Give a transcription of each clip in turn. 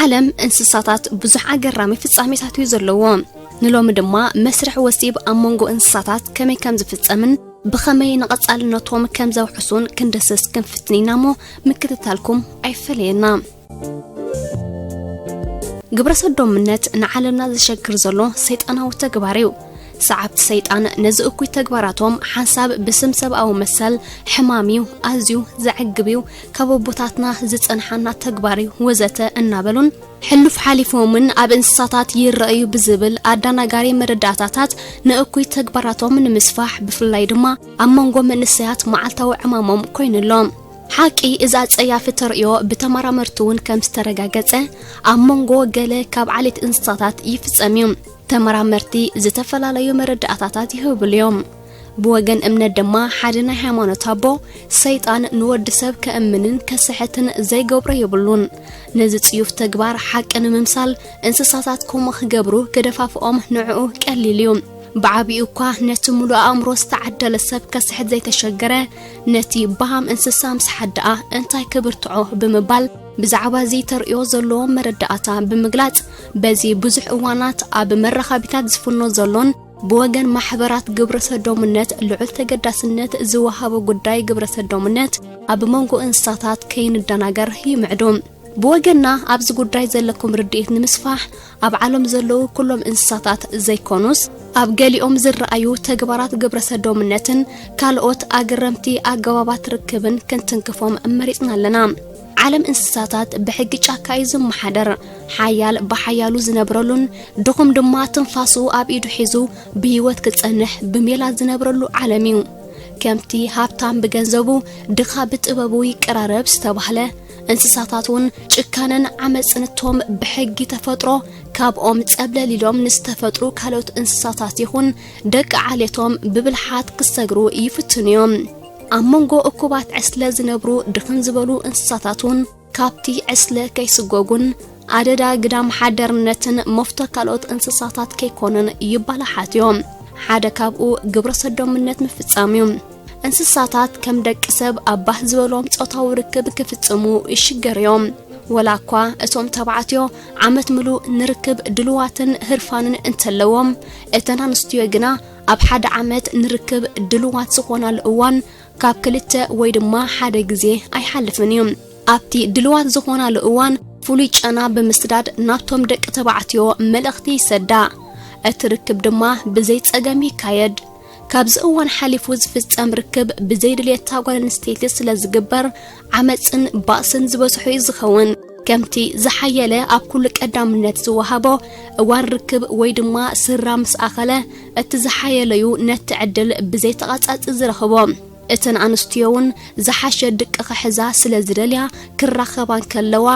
ዓለም እንስሳታት ብዙሕ ኣገራሚ ፍጻሜታት እዩ ዘለዎ ንሎሚ ድማ መስርሕ ወሲብ ኣብ መንጎ እንስሳታት ከመይ ከም ዝፍጸምን ብኸመይ ንቐጻልነቶም ከም ዘውሕሱን ክንደስስ ክንፍትን ኢና እሞ ምክትታልኩም ኣይፈለየና ግብረ ሰዶምነት ንዓለምና ዘሸግር ዘሎ ሰይጣናዊ ተግባር እዩ ሰዓብቲ ሰይጣን ነዚ እኩይ ተግባራቶም ሓንሳብ ብስም ሰብኣዊ መሰል ሕማም እዩ ኣዝዩ ዘዕግብ እዩ ካብ ኣቦታትና ዝጸንሓና ተግባር እዩ ወዘተ እናበሉን ሕሉፍ ሓሊፎምን ኣብ እንስሳታት ይረኣዩ ብዝብል ኣዳናጋሪ መረዳእታታት ንእኩይ ተግባራቶም ንምስፋሕ ብፍላይ ድማ ኣብ መንጎ መንእሰያት መዓልታዊ ዕማሞም ኮይኑ ኣሎ ሓቂ እዛ ጸያፊ ተርእዮ ብተመራመርቲ እውን ከም ዝተረጋገጸ ኣብ መንጎ ገለ ካብ ዓሌት እንስሳታት ይፍጸም እዩ ተመራመርቲ ዝተፈላለዩ መረዳእታታት ይህብሉ እዮም ብወገን እምነት ድማ ሓደ ናይ ሃይማኖት ኣቦ ሰይጣን ንወዲ ሰብ ከእምንን ከስሕትን ዘይገብሮ የብሉን ነዚ ጽዩፍ ተግባር ሓቂ ንምምሳል እንስሳታት ከምኡ ክገብሩ ገደፋፍኦም ንዕኡ ቀሊል እዩ ብዓብኡ እኳ ነቲ ሙሉእ ኣእምሮ ዝተዓደለ ሰብ ከስሕት ዘይተሸገረ ነቲ በሃም እንስሳ ምስ ሓደኣ እንታይ ክብርትዖ ብምባል ብዛዕባ እዚ ተርእዮ ዘለዎ መረዳእታ ብምግላጽ በዚ ብዙሕ እዋናት ኣብ መራኸቢታት ዝፍኖ ዘሎን ብወገን ማሕበራት ግብረ ሰዶምነት ልዑል ተገዳስነት ዝወሃቦ ጉዳይ ግብረ ሰዶምነት ኣብ መንጎ እንስሳታት ከይንደናገር ይምዕዱ። ብወገንና ኣብዚ ጉዳይ ዘለኩም ርድኢት ንምስፋሕ ኣብ ዓለም ዘለዉ ኩሎም እንስሳታት ዘይኮኑስ ኣብ ገሊኦም ዝረኣዩ ተግባራት ግብረ ሰዶምነትን ካልኦት ኣገረምቲ ኣገባባት ርክብን ክንትንክፎም መሪፅና ኣለና። ዓለም እንስሳታት ብሕጊ ጫካ እዩ ዝመሓደር። ሓያል ብሓያሉ ዝነብረሉን ድኹም ድማ ትንፋሱ ኣብ ኢዱ ሒዙ ብህይወት ክጸንሕ ብሜላ ዝነብረሉ ዓለም እዩ። ከምቲ ሃብታም ብገንዘቡ ድኻ ብጥበቡ ይቀራረብ ዝተባህለ እንስሳታት እውን ጭካነን ዓመፅን እቶም ብሕጊ ተፈጥሮ ካብኦም ፀብለል ኢሎም ንዝተፈጥሩ ካልኦት እንስሳታት ይኹን ደቂ ዓሌቶም ብብልሓት ክሰግሩ ይፍትኑ እዮም። ኣብ መንጎ እኩባት ዕስለ ዝነብሩ ድኽን ዝበሉ እንስሳታት እውን ካብቲ ዕስለ ከይስጎጉን ኣደዳ ግዳም ሓደርነትን መፍቶ ካልኦት እንስሳታት ከይኮኑን ይባላሓት እዮም ሓደ ካብኡ ግብረ ሰዶምነት ምፍጻም እዩ እንስሳታት ከም ደቂ ሰብ ኣብ ባህ ዝበሎም ጾታዊ ርክብ ክፍጽሙ ይሽገር እዮም ወላ እኳ እቶም ተባዕትዮ ዓመት ምሉእ ንርክብ ድልዋትን ህርፋንን እንተለዎም እተን ኣንስትዮ ግና ኣብ ሓደ ዓመት ንርክብ ድልዋት ዝኾናሉ እዋን ካብ ክልተ ወይ ድማ ሓደ ግዜ ኣይሓልፍን እዩ። ኣብቲ ድልዋት ዝኾናሉ እዋን ፍሉይ ጨና ብምስዳድ ናብቶም ደቂ ተባዕትዮ መልእኽቲ ይሰዳ። እቲ ርክብ ድማ ብዘይ ጸገም ይካየድ። ካብዚ እዋን ሓሊፉ ዝፍጸም ርክብ ብዘይ ድልየት እታ ጓል ኣንስተይቲ ስለዝግበር ዓመጽን ባእስን ዝበዝሖ እዩ ዝኸውን። ከምቲ ዝሓየለ ኣብ ኩሉ ቀዳምነት ዝወሃቦ እዋን ርክብ ወይ ድማ ስራ ምስ ኣኸለ እቲ ዝሓየለ እዩ ነቲ ዕድል ብዘይ ተቐጻጺ ዝረኽቦ። እተን ኣንስትዮ እውን ዝሓሸ ድቂ ክሕዛ ስለ ዝደልያ ክራኸባ እንከለዋ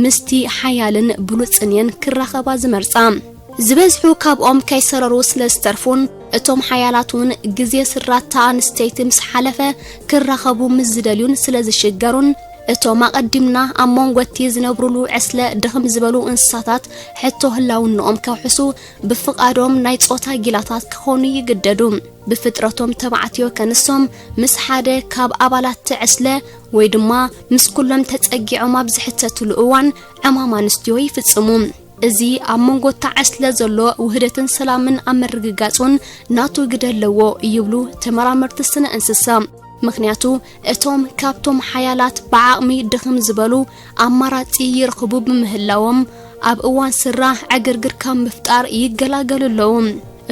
ምስቲ ሓያልን ብሉጽን እየን ክራኸባ ዝመርጻ። ዝበዝሑ ካብኦም ከይሰረሩ ስለ ዝተርፉን እቶም ሓያላት እውን ግዜ ስራት እታ ኣንስተይቲ ምስ ሓለፈ ክራኸቡ ምስ ዝደልዩን ስለ ዝሽገሩን እቶም ኣቐዲምና ኣብ መንጎ እቲ ዝነብሩሉ ዕስለ ድኽም ዝበሉ እንስሳታት ሕቶ ህላውነኦም ከውሕሱ ብፍቓዶም ናይ ጾታ ጊላታት ክኾኑ ይግደዱ። ብፍጥረቶም ተባዕትዮ ከንሶም ምስ ሓደ ካብ ኣባላት እቲ ዕስለ ወይ ድማ ምስ ኩሎም ተጸጊዖም ኣብ ዝሕተትሉ እዋን ዕማም ኣንስትዮ ይፍጽሙ። እዚ ኣብ መንጎ ተዓስለ ዘሎ ውህደትን ሰላምን ኣብ ምርግጋጹን ናቱ ግደ ኣለዎ ይብሉ ተመራመርቲ ስነ እንስሳ። ምክንያቱ እቶም ካብቶም ሓያላት ብዓቕሚ ድኽም ዝበሉ ኣማራጺ ይረኽቡ ብምህላዎም ኣብ እዋን ስራ ዕግርግር ካብ ምፍጣር ይገላገሉ ኣለዉ።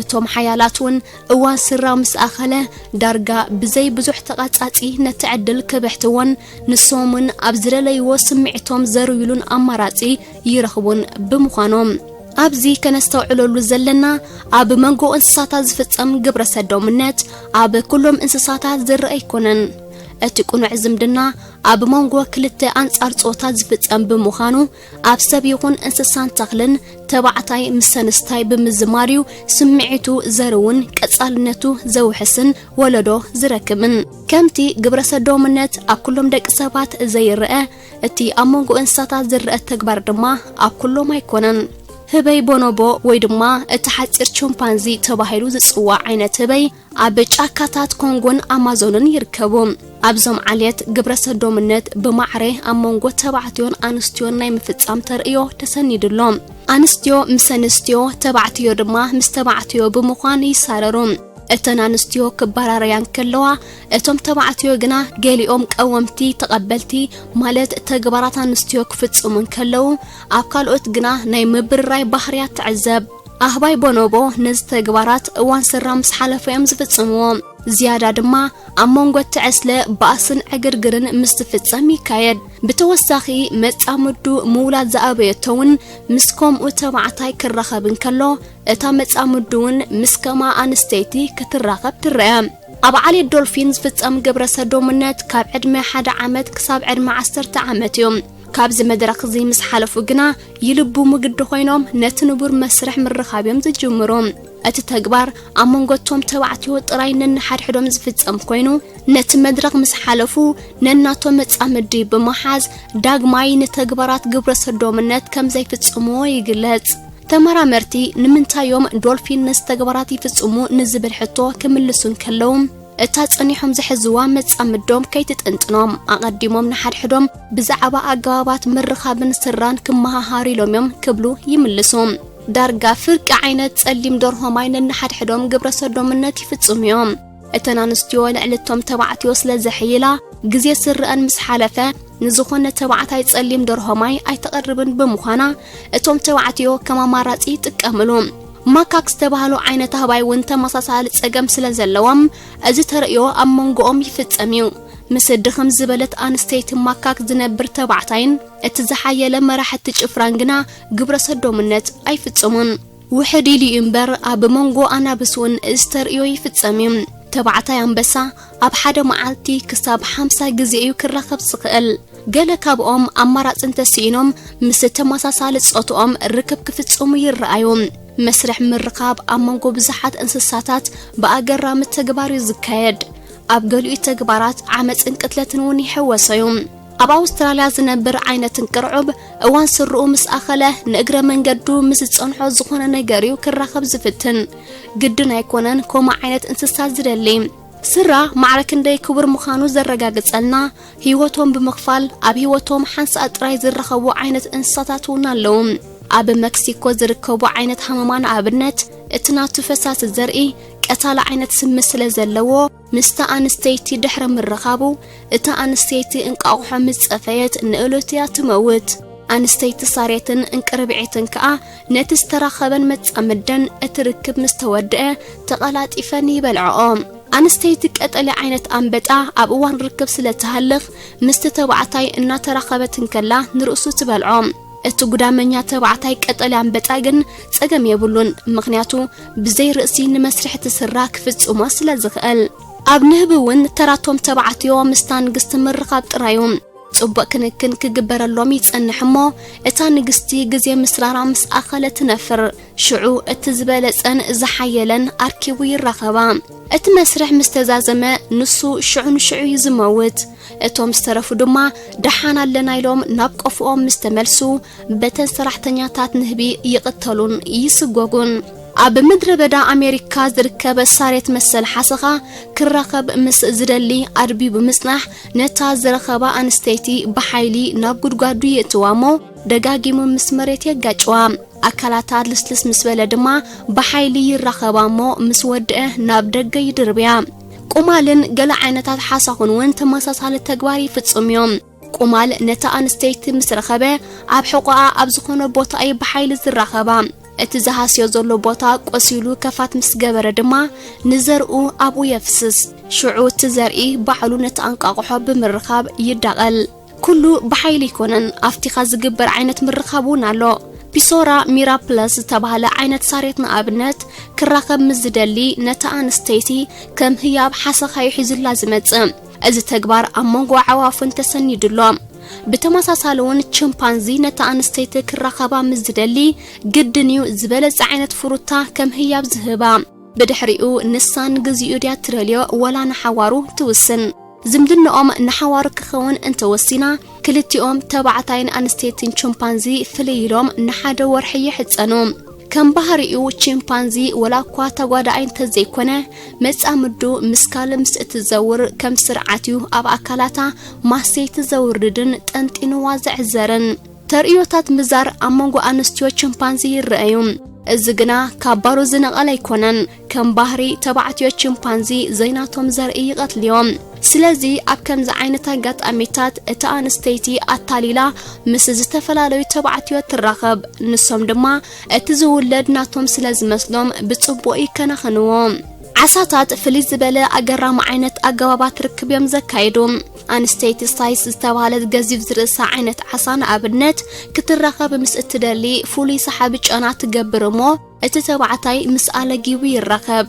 እቶም ሓያላት እውን እዋን ስራው ምስ ኣኸለ ዳርጋ ብዘይ ብዙሕ ተቓጻጺ ነቲ ዕድል ክብሕትዎን ንሶም እውን ኣብ ዝደለይዎ ስምዒቶም ዘርዩሉን ኣማራጺ ይረኽቡን ብምዃኖም ኣብዚ ከነስተውዕለሉ ዘለና ኣብ መንጎ እንስሳታት ዝፍጸም ግብረ ሰዶምነት ኣብ ኩሎም እንስሳታት ዝረአ ኣይኮነን። እቲ ቅኑዕ ዝምድና ኣብ መንጎ ክልተ ኣንጻር ጾታ ዝፍጸም ብምዃኑ ኣብ ሰብ ይኹን እንስሳን ተኽልን ተባዕታይ ምስ ሰንስታይ ብምዝማር እዩ ስምዒቱ ዘርውን ቀጻልነቱ ዘውሕስን ወለዶ ዝረክብን። ከምቲ ግብረ ሰዶምነት ኣብ ኩሎም ደቂ ሰባት ዘይረአ፣ እቲ ኣብ መንጎ እንስሳታት ዝረአ ተግባር ድማ ኣብ ኩሎም ኣይኮነን። ህበይ ቦኖቦ ወይ ድማ እቲ ሓጺር ቾምፓንዚ ተባሂሉ ዝጽዋዕ ዓይነት ህበይ ኣብ ጫካታት ኮንጎን ኣማዞንን ይርከቡ። ኣብዞም ዓሌት ግብረሰዶምነት ብማዕረ ኣብ መንጎ ተባዕትዮን ኣንስትዮን ናይ ምፍጻም ተርእዮ ተሰኒዱ ኣሎ። ኣንስትዮ ምስ ኣንስትዮ፣ ተባዕትዮ ድማ ምስ ተባዕትዮ ብምዃን ይሳረሩ። እተን ኣንስትዮ ክባራረያ እንከለዋ፣ እቶም ተባዕትዮ ግና ገሊኦም ቀወምቲ፣ ተቐበልቲ፣ ማለት ተግባራት ኣንስትዮ ክፍጽሙ እንከለዉ፣ ኣብ ካልኦት ግና ናይ ምብርራይ ባህርያት ትዕዘብ። ኣህባይ ቦኖቦ ነዚ ተግባራት እዋን ስራ ምስ ሓለፎ እዮም ዝፍጽምዎ። ዝያዳ ድማ ኣብ መንጎ እቲ ዕስለ ባእስን ዕግርግርን ምስ ዝፍጸም ይካየድ። ብተወሳኺ መጻምዱ ምውላድ ዝኣበየቶ እውን ምስ ከምኡ ተባዕታይ ክራኸብ እንከሎ እታ መጻምዱ እውን ምስ ከምኣ ኣንስተይቲ ክትራኸብ ትረአ። ኣብ ዓሌት ዶልፊን ዝፍጸም ግብረ ሰዶምነት ካብ ዕድመ ሓደ ዓመት ክሳብ ዕድመ ዓሰርተ ዓመት እዩ። ካብዚ መድረኽ እዚ ምስ ሓለፉ ግና ይልብሙ ግዲ ኮይኖም ነቲ ንቡር መስርሕ ምርኻብ እዮም ዝጅምሩ። እቲ ተግባር ኣብ መንጎቶም ተባዕትዮ ጥራይ ነንሓድሕዶም ዝፍጸም ኮይኑ ነቲ መድረኽ ምስ ሓለፉ ነናቶም መጻምዲ ብምሓዝ ዳግማይ ንተግባራት ግብረ ሰዶምነት ከም ዘይፍጽምዎ ይግለጽ። ተመራመርቲ ንምንታይ እዮም ዶልፊን ነዚ ተግባራት ይፍጽሙ ንዝብል ሕቶ ክምልሱ እንከለዉ እታ ጸኒሖም ዝሕዝዋ መጻምዶም ከይትጥንጥኖም ኣቐዲሞም ንሓድሕዶም ብዛዕባ ኣገባባት ምርኻብን ስራን ክመሃሃሩ ኢሎም እዮም ክብሉ ይምልሱ። ዳርጋ ፍርቂ ዓይነት ጸሊም ደርሆ ማይ ነንሓድሕዶም ግብረ ሰዶምነት ይፍጽሙ እዮም። እተን ኣንስትዮ ልዕሊ እቶም ተባዕትዮ ስለ ዘሕይላ ግዜ ስርአን ምስ ሓለፈ ንዝኾነ ተባዕታይ ጸሊም ደርሆ ማይ ኣይተቐርብን ብምዃና እቶም ተባዕትዮ ከም ኣማራጺ ይጥቀምሉ። ማካክ ዝተባህሉ ዓይነት ኣህባይ እውን ተመሳሳሊ ጸገም ስለ ዘለዎም እዚ ተርእዮ ኣብ መንጎኦም ይፍጸም እዩ። ምስ ድኽም ዝበለት ኣንስተይቲ ማካክ ዝነብር ተባዕታይን እቲ ዝሓየለ መራሕቲ ጭፍራን ግና ግብረ ሰዶምነት ኣይፍጽሙን። ውሕድ ኢሉ እዩ እምበር ኣብ መንጎ ኣናብስ እውን እዚ ተርእዮ ይፍጸም እዩ። ተባዕታይ ኣንበሳ ኣብ ሓደ መዓልቲ ክሳብ ሓምሳ ግዜ እዩ ክራኸብ ዝኽእል። ገለ ካብኦም ኣማራጺ እንተስኢኖም ምስ ተመሳሳሊ ጾትኦም ርክብ ክፍጽሙ ይረኣዩ። መስርሕ ምርኻብ ኣብ መንጎ ብዙሓት እንስሳታት ብኣገራሚ ተግባር እዩ ዝካየድ። ኣብ ገሊኡ ተግባራት ዓመጽን ቅትለትን እውን ይሕወሶ እዩ። ኣብ ኣውስትራልያ ዝነብር ዓይነት እንቅርዑብ እዋን ስርኡ ምስ ኣኸለ ንእግረ መንገዱ ምስ ዝጸንሖ ዝኾነ ነገር እዩ ክራኸብ ዝፍትን። ግድን ኣይኮነን ከምኡ ዓይነት እንስሳ ዝደሊ። ስድራ ማዕረ ክንደይ ክቡር ምዃኑ ዘረጋግጸልና፣ ህይወቶም ብምኽፋል ኣብ ህይወቶም ሓንሳእ ጥራይ ዝራኸቡ ዓይነት እንስሳታት እውን ኣለዉ። ኣብ መክሲኮ ዝርከቡ ዓይነት ሃመማ ንኣብነት፣ እቲ ናቱ ፈሳሲ ዘርኢ ቀታሊ ዓይነት ስሚ ስለ ዘለዎ፣ ምስታ ኣንስተይቲ ድሕሪ ምርኻቡ፣ እታ ኣንስተይቲ እንቋቑሖ ምስ ጸፈየት ንእሉት እያ ትመውት። ኣንስተይቲ ሳሬትን እንቅርብዒትን ከኣ ነቲ ዝተራኸበን መጻምደን እቲ ርክብ ምስ ተወድአ ተቐላጢፈን ይበልዕኦ። ኣንስተይቲ ቀጠልያ ዓይነት ኣንበጣ ኣብ እዋን ርክብ ስለ እትሃልኽ ምስቲ ተባዕታይ እናተራኸበት እንከላ ንርእሱ ትበልዖ። እቲ ጉዳመኛ ተባዕታይ ቀጠልያ ኣንበጣ ግን ጸገም የብሉን፣ ምኽንያቱ ብዘይ ርእሲ ንመስርሕ እቲ ስራ ክፍጽሞ ስለ ዝኽእል። ኣብ ንህቢ እውን ተራቶም ተባዕትዮ ምስታ ንግስቲ ምርኻብ ጥራይ እዩ። ጽቡቕ ክንክን ክግበረሎም ይጸንሕ እሞ እታ ንግስቲ ግዜ ምስራራ ምስ ኣኸለ ትነፍር ሽዑ እቲ ዝበለጸን ዝሓየለን ኣርኪቡ ይራኸባ እቲ መስርሕ ምስ ተዛዘመ ንሱ ሽዑ ንሽዑ እዩ ዝመውት እቶም ዝተረፉ ድማ ደሓን ኣለና ኢሎም ናብ ቆፍኦም ምስ ተመልሱ በተን ሰራሕተኛታት ንህቢ ይቕተሉን ይስጎጉን። ኣብ ምድረ በዳ ኣሜሪካ ዝርከብ ሳሬት መሰል ሓሰኻ ክራኸብ ምስ ዝደሊ ኣድብዩ ብምጽናሕ ነታ ዝረኸባ ኣንስተይቲ ብሓይሊ ናብ ጉድጓዱ የእትዋ እሞ ደጋጊሙ ምስ መሬት የጋጭዋ። ኣካላታ ልስልስ ምስ በለ ድማ ብሓይሊ ይራኸባ እሞ ምስ ወድአ ናብ ደገ ይድርብያ። ቁማልን ገለ ዓይነታት ሓሳኹን እውን ተመሳሳሊ ተግባር ይፍጽሙ እዮም። ቁማል ነታ ኣንስተይቲ ምስ ረኸበ ኣብ ሕቖኣ ኣብ ዝኾነ ቦታ እዩ ብሓይሊ ዝራኸባ። እቲ ዝሃስዮ ዘሎ ቦታ ቆሲሉ ከፋት ምስ ገበረ ድማ ንዘርኡ ኣብኡ የፍስስ። ሽዑ እቲ ዘርኢ ባዕሉ ነቲ ኣንቃቑሖ ብምርኻብ ይዳቐል። ኩሉ ብሓይሊ ኣይኮነን፣ ኣፍቲኻ ዝግበር ዓይነት ምርኻብ እውን ኣሎ። ፒሶራ ሚራፕለስ ዝተባህለ ዓይነት ሳሬት ንኣብነት ክራኸብ ምስ ዝደሊ ነታ ኣንስተይቲ ከም ህያብ ሓሰኻ'ዩ ሒዙላ ዝመጽእ። እዚ ተግባር ኣብ መንጎ ኣዕዋፍን ተሰኒዱ ኣሎ። ብተመሳሳሊ እውን ቺምፓንዚ ነታ ኣንስተይቲ ክራኸባ ምስ ዝደሊ ግድን እዩ ዝበለጸ ዓይነት ፍሩታ ከም ህያብ ዝህባ። ብድሕሪኡ ንሳ ንግዚኡ ድያ ትደልዮ ወላ ንሓዋሩ ትውስን። ዝምድንኦም ንሓዋሩ ክኸውን እንተወሲና ክልቲኦም ተባዕታይን ኣንስተይትን ቺምፓንዚ ፍልይ ኢሎም ንሓደ ወርሒ ይሕጸኑ። ከም ባህሪኡ ቺምፓንዚ ወላ እኳ ተጓዳኣይ እንተዘይኮነ መጻምዱ ምስ ካልእ ምስ እትዘውር ከም ስርዓት እዩ ኣብ ኣካላታ ማሰይቲ ዘውርድን ጠንጢንዋ ዘዕዘርን። ተርእዮታት ምዛር ኣብ መንጎ ኣንስትዮ ቺምፓንዚ ይረኣዩ፣ እዚ ግና ካብ ባሮ ዝነቐለ ኣይኮነን። ከም ባህሪ ተባዕትዮ ቺምፓንዚ ዘይናቶም ዘርኢ ይቐትልዮም። ስለዚ ኣብ ከምዚ ዓይነት ኣጋጣሚታት እታ ኣንስተይቲ ኣታሊላ ምስ ዝተፈላለዩ ተባዕትዮ ትራኸብ፣ ንሶም ድማ እቲ ዝውለድ ናቶም ስለ ዝመስሎም ብጽቡቕ ይከናኸንዎ። ዓሳታት ፍልይ ዝበለ ኣገራሚ ዓይነት ኣገባባት ርክብ እዮም ዘካይዱ። ኣንስተይቲ ሳይስ ዝተባህለት ገዚፍ ዝርእሳ ዓይነት ዓሳ ንኣብነት ክትራኸብ ምስ እትደሊ ፍሉይ ሰሓቢ ጨና ትገብር እሞ እቲ ተባዕታይ ምስ ኣለጊቡ ይራኸብ።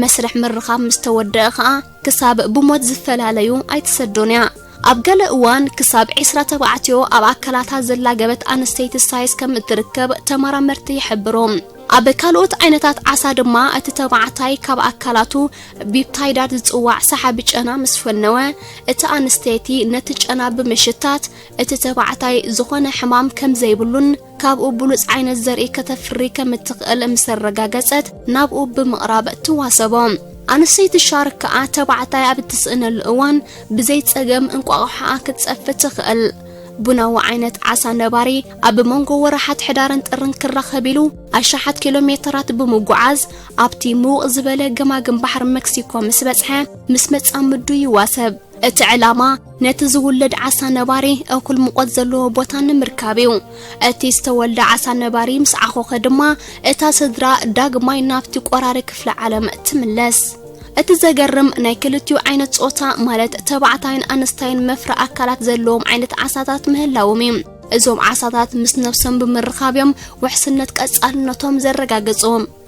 መስርሕ ምርኻብ ምስ ተወደኣ ኸኣ ክሳብ ብሞት ዝፈላለዩ ኣይትሰዶን እያ። ኣብ ገለ እዋን ክሳብ ዕስራ ተባዕትዮ ኣብ ኣካላታ ዘላገበት ኣንስተይቲ ሳይስ ከም እትርከብ ተመራመርቲ ይሕብሩ። ኣብ ካልኦት ዓይነታት ዓሳ ድማ እቲ ተባዕታይ ካብ ኣካላቱ ቢፕታይዳት ዝጽዋዕ ሰሓቢ ጨና ምስ ፈነወ፣ እታ ኣንስተይቲ ነቲ ጨና ብምሽታት እቲ ተባዕታይ ዝኾነ ሕማም ከም ዘይብሉን ካብኡ ብሉጽ ዓይነት ዘርኢ ከተፍሪ ከም እትኽእል ምስ ኣረጋገጸት ናብኡ ብምቕራብ ትዋሰቦ። ኣንስተይቲ ሻርክ ከኣ ተባዕታይ ኣብ እትስእነሉ እዋን ብዘይ ጸገም እንቋቑሖኣ ክትጸፍት ትኽእል። ቡናዊ ዓይነት ዓሳ ነባሪ ኣብ መንጎ ወርሓት ሕዳርን ጥርን ክራኸብ ኢሉ ኣሽሓት ኪሎ ሜተራት ብምጉዓዝ ኣብቲ ምውቕ ዝበለ ገማግም ባሕሪ መክሲኮ ምስ በጽሐ ምስ መጻምዱ ይዋሰብ። እቲ ዕላማ ነቲ ዝውለድ ዓሳ ነባሪ እኹል ሙቐት ዘለዎ ቦታ ንምርካብ እዩ። እቲ ዝተወልደ ዓሳ ነባሪ ምስ ዓኾኸ ድማ እታ ስድራ ዳግማይ ናብቲ ቆራሪ ክፍለ ዓለም ትምለስ። እቲ ዘገርም ናይ ክልቲኡ ዓይነት ጾታ ማለት ተባዕታይን ኣንስታይን መፍረ ኣካላት ዘለዎም ዓይነት ዓሳታት ምህላዎም እዩ። እዞም ዓሳታት ምስ ነብሶም ብምርኻብ እዮም ውሕስነት ቀጻልነቶም ዘረጋግጹ።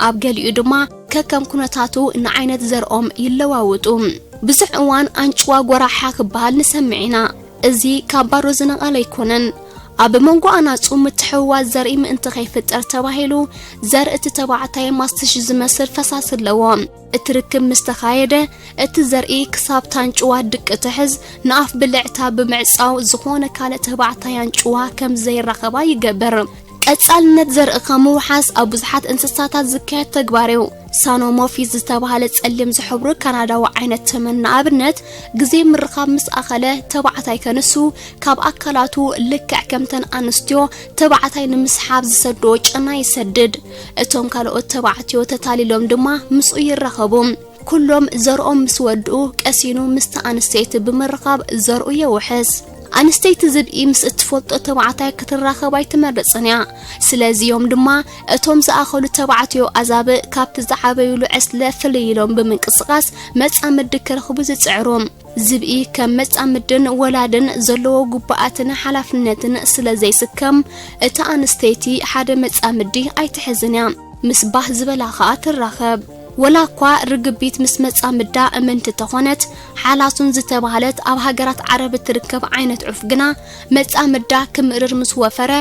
ኣብ ገሊኡ ድማ ከከም ኩነታቱ ንዓይነት ዘርኦም ይለዋውጡ። ብዙሕ እዋን ኣንጭዋ ጎራሓ ክበሃል ንሰምዕ ኢና። እዚ ካብ ባዶ ዝነቐለ ኣይኮነን። ኣብ መንጎ ኣናጹ ምትሕውዋስ ዘርኢ ምእንቲ ከይፍጠር ተባሂሉ ዘርእቲ ተባዕታይ ማስትሽ ዝመስል ፈሳሲ ኣለዎ። እቲ ርክብ ምስ ተኻየደ፣ እቲ ዘርኢ ክሳብ ታንጭዋ ድቂ እትሕዝ ንኣፍ ብልዕታ ብምዕጻው ዝኾነ ካልእ ተባዕታይ ኣንጭዋ ከም ዘይራኸባ ይገብር። ቀጻልነት ዘርኢ ካብ ምውሓስ ኣብ ብዙሓት እንስሳታት ዝካየድ ተግባር እዩ። ሳኖሞፊዝ ዝተባህለ ጸሊም ዝሕብሩ ካናዳዊ ዓይነት ተመን ንኣብነት ግዜ ምርኻብ ምስ ኣኸለ ተባዕታይ ከንሱ ካብ ኣካላቱ ልክዕ ከምተን ኣንስትዮ ተባዕታይ ንምስሓብ ዝሰዶ ጨና ይሰድድ። እቶም ካልኦት ተባዕትዮ ተታሊሎም ድማ ምስኡ ይራኸቡ። ኩሎም ዘርኦም ምስ ወድኡ ቀሲኑ ምስቲ ኣንስተይቲ ብምርኻብ ዘርኡ የውሕስ። ኣንስተይቲ ዝብኢ ምስ እትፈልጦ ተባዕታይ ክትራኸብ ኣይትመርጽን እያ። ስለዚ እዮም ድማ እቶም ዝኣኸሉ ተባዕትዮ ኣዛብእ ካብቲ ዝዓበዩሉ ዕስለ ፍልይ ኢሎም ብምንቅስቓስ መጻምዲ ክረኽቡ ዝጽዕሩ። ዝብኢ ከም መጻምድን ወላድን ዘለዎ ጉባኣትን ሓላፍነትን ስለ ዘይስከም እታ ኣንስተይቲ ሓደ መጻምዲ ኣይትሕዝን እያ ምስ ባህ ዝበላ ኸኣ ትራኸብ። ወላ እኳ ርግቢት ምስ መጻምዳ እምንቲ ተኾነት ሓላሱን ዝተባህለት ኣብ ሃገራት ዓረብ እትርከብ ዓይነት ዑፍ ግና መጻምዳ ክምእርር ምስ ወፈረ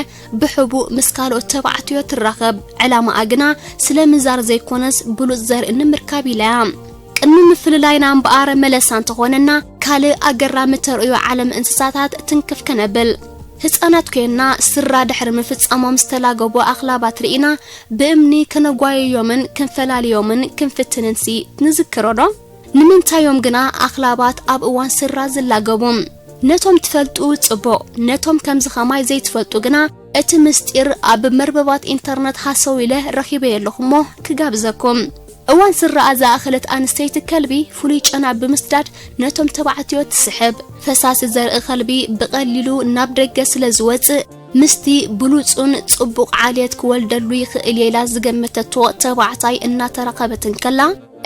ብሕቡእ ምስ ካልኦት ተባዕትዮ ትራኸብ ዕላማኣ ግና ስለ ምዛር ዘይኮነስ ብሉጽ ዘርኢ ንምርካብ ኢላ እያ ቅድሚ ምፍልላይና እምበኣር መለስ ኣንተኾነና ካልእ ኣገራሚ ተርእዮ ዓለም እንስሳታት ትንክፍ ከነብል ህጻናት ኮይንና ስራ ድሕሪ ምፍጻሞም ዝተላገቡ ኣኽላባት ርኢና ብእምኒ ከነጓየዮምን ክንፈላልዮምን ክንፍትንንሲ ንዝክሮዶ? ንምንታዮም ግና ኣኽላባት ኣብ እዋን ስራ ዝላገቡ? ነቶም ትፈልጡ ጽቡቕ ነቶም ከምዚ ከማይ ዘይትፈልጡ ግና እቲ ምስጢር ኣብ መርበባት ኢንተርነት ሃሰው ኢለ ረኺበዮ ኣለኹ እሞ ክጋብዘኩም። እዋን ስረኣ ዝኣኸለት ኣንስተይቲ ከልቢ ፍሉይ ጨና ብምስዳድ ነቶም ተባዕትዮ ትስሕብ። ፈሳሲ ዘርኢ ከልቢ ብቐሊሉ ናብ ደገ ስለ ዝወጽእ ምስቲ ብሉጹን ጽቡቕ ዓልየት ክወልደሉ ይኽእል እየ ኢላ ዝገመተቶ ተባዕታይ እናተራኸበት እንከላ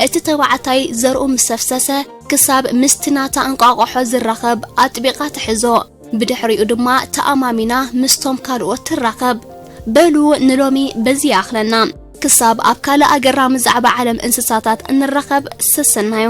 እቲ ተባዕታይ ዘርኡ ምስ ሰፍሰሰ ክሳብ ምስቲ ናታ እንቋቑሖ ዝራኸብ ኣጥቢቓ ትሕዞ። ብድሕሪኡ ድማ ተኣማሚና ምስቶም ካልኦት ትራኸብ። በሉ ንሎሚ በዚ ይኣኽለና። ክሳብ ኣብ ካልእ ኣገራሚ ዛዕባ ዓለም እንስሳታት እንራኸብ ሰሰናዩ።